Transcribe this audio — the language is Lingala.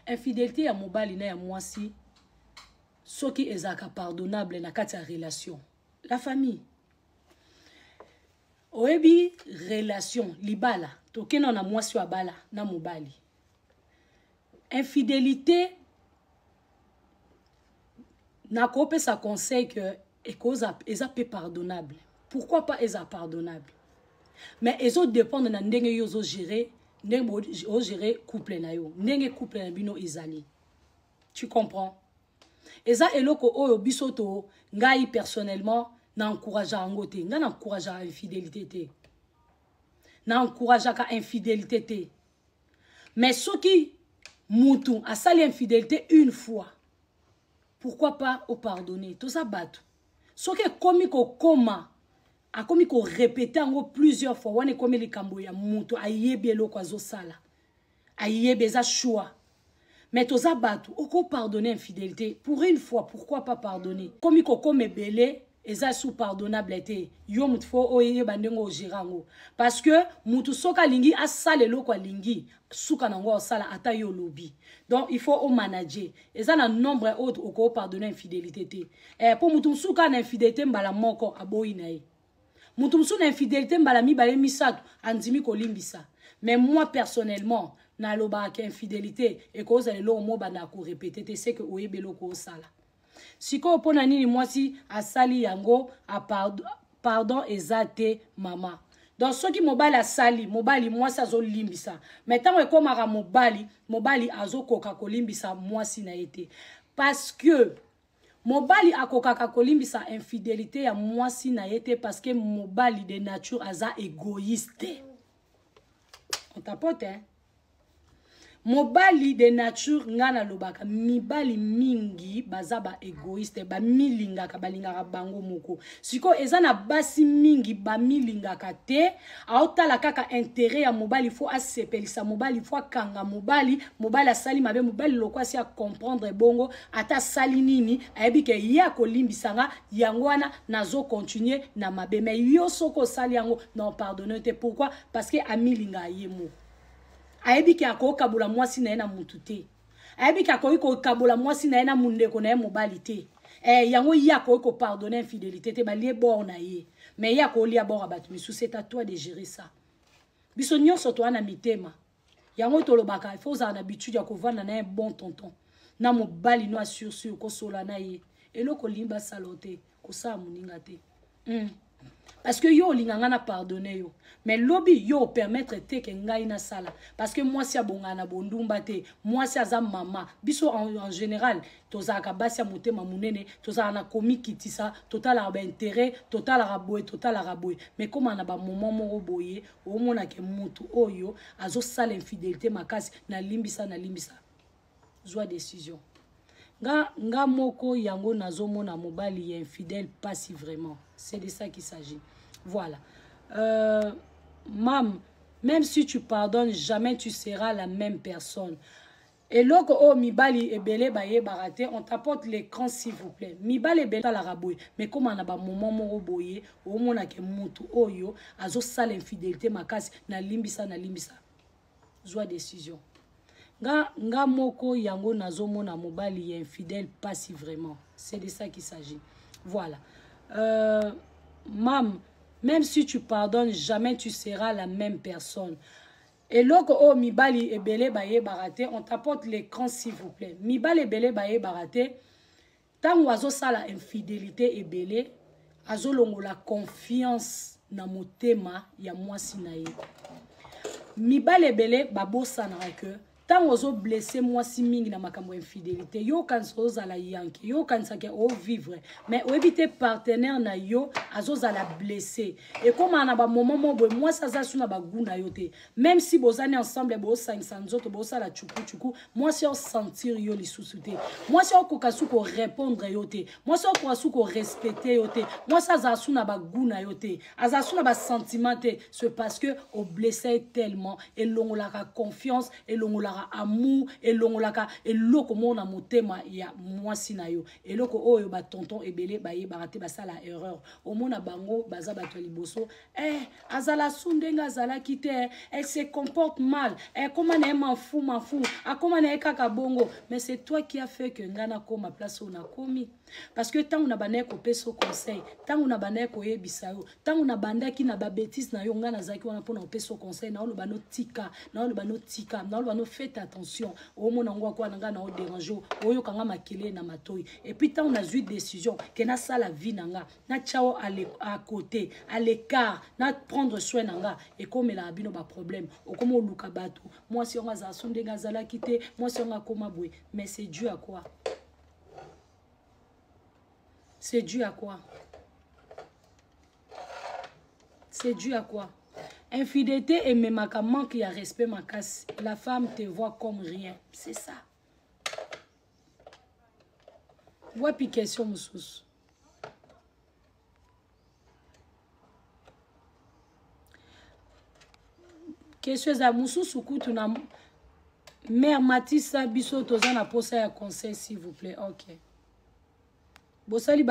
infidelité ya mobali na ya mwasi soki ezalaka pardonnable na kati ya relation la famille oyebi relation libala tokenda na mwasi oyo abala na mobali infidelité nakopesa conseil que ekoza eza pe pardonnable pourquoi pas eza pardonnable mais ezo dépendre na ndenge yo ozo gérer ndenge o gérer couple na yo ndenge couple na bino ezali tu comprends eza eloko oyo biso to ngai personnellement na encouragea yango te ngai na encouragea infidélité te na encourageaka infidélité te mais soki mutu asali infidélité une fois pourquoi pas o pardonner toza bato soki ekomi kokoma akomi korepete yango plusieurs fois wana ekomi likambo ya moto ayebi eloko azosala ayebi eza choix mais toza bato okopardonne infidélité pour une fois pourquoi pas pardonne komi kokoma ebele eza sous pardonnable te yo moto fo oyeba ndenge ogera yango parce que moto soki alingi asala eloko alingi suka na yango osala ata yo olobi donc il faut omanager eza na nombre ya oyo okoki opardonne infidélité te eh, mpo moto mosusu kaka na infidélité mbala moko aboyi na ye moto mosusu na infidélité mbala mibale misato andimi kolimbisa mais moi personnellement nalobaka ke infidélité ekozala eloko mobanda korepete te seke oyebi eloko osala sikoyo mpo na nini mwasi asali yango apardon ah, pardon eza te mama donc soki mobali asali mobali mwasi azolimbisa mai ntango ekomaka mobali mobali azokoka kolimbisa mwasi na ye te parce que mobali akokaka kolimbisa infidelité ya mwasi na ye te parce que mobali de nature aza égoïste on tapote hein? mobali de nature ngai nalobaka mibali mingi baza ba egoiste bamilingaka balingaka bango moko sikoyo eza na basi mingi bamilingaka te aotala kaka intere ya mobali fo asepelisa mobali fo akanga mobali mobali asali mabe mobali loko asi acomprendre bongo ata asali nini ayebi ke ye akolimbisa nga yango wana nazokontinue na mabe mai yo soki osali yango na opardonne te pourkui parce que amilinga ye moko ayebi ke akoki kabola mwasi na ye na mutu te ayebi ke akoki kokabola mwasi na ye na mondeko na ye mobali te eh, yango ye akoki kopardonne infidélité te balie bor na ye mais ye akolia bor ya bato misusu c'est à toi de gérer ça biso nyonso toa na mitema yango tolobaka ifo ozala na bitude ya kovanda na ye bon tonton na mobali no asursur kosola na ye eloko olingi basala te kosala moninga te mm. parce que yo olinga ngai na pardonne yo mais lobi yo opermettre te ke ngai nasala parce que mwasi abongana na bondumba te mwasi aza mama biso en, en général tozalaka basi ya motema monene tozalaka na komikitisa totalaka baintérêt totalaka boye totalaka boye mais koma na bamoment moko boye omonake motu oyo azosala infidélité makasi nalimbisa nalimbisa zwa decision nga nga moko yango nazomona mobali ya infidèle pasi vraiment c'est de ça qu'il s'agit voilà euh, mam même si tu pardonnes jamais tu seras la même personne eloko oyo oh, mibali ebele bayebaka te on t'apporte l'écran s'il vous plaît mibali ebele talaka boye mais koma na bamoment moko boye omonake mutu oyo azosala infidélité makasi nalimbisa nalimbisa zwa decision nga nga moko yango nazomona mobali ya infidèle pasi vraiment c'est de ça qu'il s'agit voilà euh, mam même si tu pardonnes jamais tu seras la même personne eloko oyo oh, mibali ebele bayebaka te on t'apporte l'écran s'il vous plaît mibali ebele bayebaka te ntango azosala infidelité ebele azolongola confiance na motema ya mwasi na ye mibali ebele babosanaka ke ntango ozoblesse mwasi mingi na makambo ya infidelité yo okanisa ozala yanke yo okanisaka ovivre mais oyebi te partenaire na yo azozala blesse ekomaka na bamoment moko boye mwasi aza su na bagu na yo te meme si bozani ensemble bosangisa nzoto bosala chukuchuku mwasi aosentir yo lisusu te mwasi aokoka su korepondre yo te mwasi aokoka su korespecte yo te mwasi azala su na bagu na yo te azala su na basentiment te ce parce que oblesse ye tellement elongolaka confiance elongolaka amour elongolaka eloko moko na motema ya mwasi na yo eloko oyo batonton ebele bayebaka te basala erreur omona bango baza bato ya liboso eh, azala su ndenge azalaki te eh, elle se comporte mal eh, koma na ye manfu manfu akoma na ye kaka bongo mais c'est toi qui a fait que ngai nakoma place oyo nakomi parce que ntango nabandaki kopesa conseil ntango nabandaki koyebisa yo ntango nabandaki na babetise na yo ngai nazalaki wana mpona kopesa conseil naoloba notika naoloba notika naoloba no fete attention omona yango akwa na ngai na oderange oyoka ngai makelele na matoi epuis ntango nazwi décision ke nasala vie na ngai na tiao à côté à l'écart na prendre soin na nga ekomelaka bino baproblème okoma oluka bato mwasi yango azala so ndenge azalaki te mwasi yango akoma boye mais c'est dû à quoi c'est dû à quoi c'est dû à quoi infidélité ememaka manque ya respect makasi la femme te voit comme rien c'est ça wapi question mosusu question eza mosusu kutu na mare matisa biso toza na mposa ya conseil s'il vous plaît ok bosali ba